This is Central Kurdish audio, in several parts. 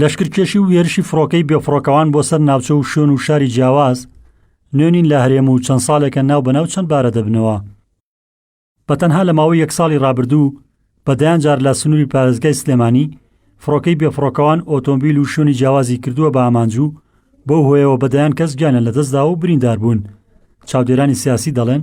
لەشکرکێشی و هێرشی فڕۆکەی بێفڕۆکەوان بۆ سەر ناوچە و شوێن و شاری جیاواز نوێنین لە هەرێم و چەند ساڵێکە ناو بەناو چەند بارە دەبنەوە بە تەنها لە ماوەی یەک ساڵی رابردوو بەدەیان جار لە سنووری پارێزگای سلێمانی فڕۆکەی بێفڕۆکەوان ئۆتۆمبیل و شوێنی جیاوازی کردووە بە ئامانج و بەو هۆیەوە بەدەیان کەس گیانە لەدەستدا و بریندار بوون چاودێرانی سیاسی دەڵێن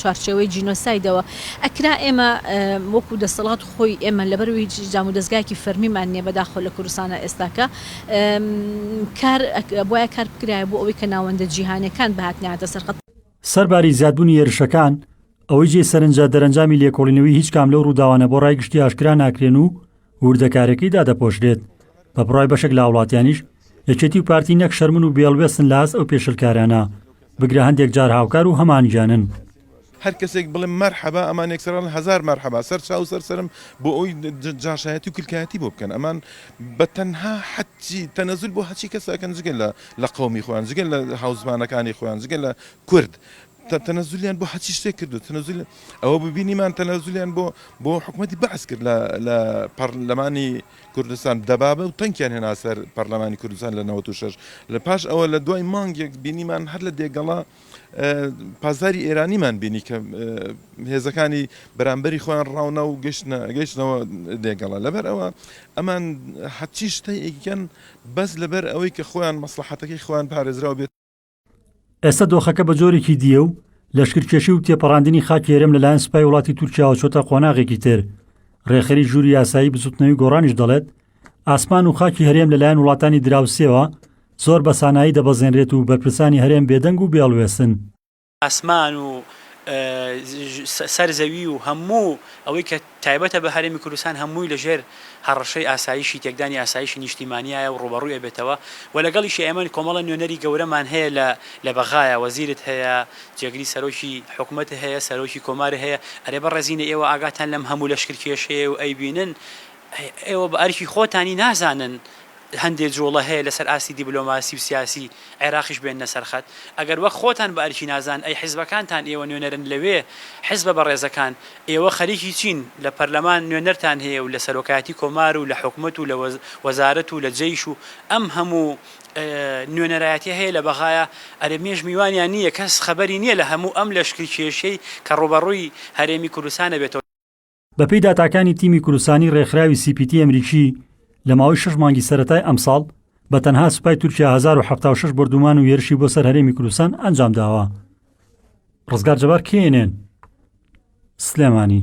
چوارچێوەی جینۆسایدەوە ئەکرا ئێمە وەکو دەسەڵات خۆی ئێمە لەبەر هیچ جام و دەستگایەکی فەرمیمان نییە بەداخۆ لە کوردستانە ئێستاکە کار بۆە کار بکرایە بۆ ئەوەی کە ناوەندە جیهانەکان بهاتناتە سەرخەت سەرباری زیادبوونی هێرشەکان ئەوەی جێی سەرنجە دەرەنجامی لێکۆڵینەوەی هیچ کام لەو ڕووداوانە بۆ ڕای گشتی ئاشکرا ناکرێن و وردەکارەکەی دادەپۆشرێت، بە بڕای بەشێک لە هاوڵاتیانیش یەکێتی و پارتی نەک شەرمن و بێڵوێستن لە ئاست ئەو پێشلکارانە، بگرە هەندێک جار هاوکار و هەمانگیانن. هەر کەسێک بڵێ مەرحەبا ئەمان یەکسەر ئەڵێن هەزار مەرحەبا، سەر چاو و سەر سەرم بۆ ئەوەی جاشایەتی و کلکایەتی بۆ بکەن، ئەمان بە تەنها حەجی تەنەزول بۆ هەچی کەس ئەکەن جگە لە قەومی خۆیان، جگە لە هاوزمانەکانی خۆیان، جگە لە کورد. تەنەزولیان بۆ هەرچی شتێک کردو تەنەزولی ئەوە ببینیمان تەنەزولیان بۆ بۆ حکومەتی بەعس کرد لە لە پەرلەمانی کوردستان دەبابە و تەنکیان هێنا سەر پەرلەمانی کوردستان لە 96 لە پاش ئەوە لە دوای مانگێک بینیمان هەر لە دێگەڵا پازاری ئێرانیمان بینی کە هێزەکانی بەرامبەری خۆیان ڕاونە و گەشتە گەشتنەوە دێگەڵە لەبەر ئەوە ئەمان هەچی شتەیەکیان بەس لەبەر ئەوەی کە خۆیان مەسلحەتەکەی خۆیان پارێزراو بێت ئێستا دۆخەکە بە جۆرێکی دییە و لەشکرکێشی و تێپەڕاندنی خاکی هەرێم لەلایەن سپای وڵاتی تورکیاوە چۆتە قۆناغێکی تر. رێکخەری ژووری یاسایی بزوتنەوی گۆڕانیش دەڵێت، ئاسمان و خاکی هەرێم لەلایەن وڵاتانی دراوسێوە زۆر بە سانایی دەبەزێنرێت و بەرپرسانی هەرێم بێدەنگ و بێهەڵوێستن. ئاسمان و سەر زەوی و هەموو ئەوەی کە تایبەتە بە هەرێمی کوردستان هەمووی لە ژێر هەڕەشەی ئاسایشی تێکدانی ئاسایشی نیشتیمانیایە و ڕووبەڕووی ئەبێتەوە و لەگەڵیشی ئێمە کۆمەڵە نوێنەری گەورەمان هەیە لە لە بەغایە وەزیرت هەیە جێگری سەرۆکی حکومەت هەیە سەرۆکی کۆمار هەیە ئەرێ بەڕێزینە ئێوە ئاگاتان لەم هەموو لەشکرکێشەیە و ئەیبینن ئێوە بە ئەرکی خۆتانی نازانن هەندێ جوڵە هەیە لەسەر ئاستی دیبلۆماسی و سیاسی عێراقیش بێننە سەر خەت. ئەگەر وەک خۆتان بە ئەرکی نازان ئەی حیزبەکانتان ئێوە نوێنەرن لەوێ، حیزبە بەڕێزەکان، ئێوە خەریکی چین؟ لە پەرلەمان نوێنەرتان هەیە و لە سەرۆکایەتی کۆمار و لە حکومەت و لە وەزارەت و لە جەیش و ئەم هەموو نوێنەرایەتیە هەیە لە بەغایە، ئەرێ مێژ میوانیان نییە، کەس خەبەری نییە لە هەموو ئەم لەشکرکێشیەی کە ڕووبەڕووی هەرێمی کوردستان ئەبێتەوە. بەپێی داتاکانی تیمی کوردستانی ڕێکخراوی سی پی تی ئەمریکی لە ماوەی شەش مانگی سەرەتای ئەمساڵ بە تەنها سوپای تورکیا هەزار و حەفتا و شەش بۆردومان و هێرشی بۆ سەر هەرێمی کوردستان ئەنجام داوە. ڕزگار جەبار کێنێن سلێمانی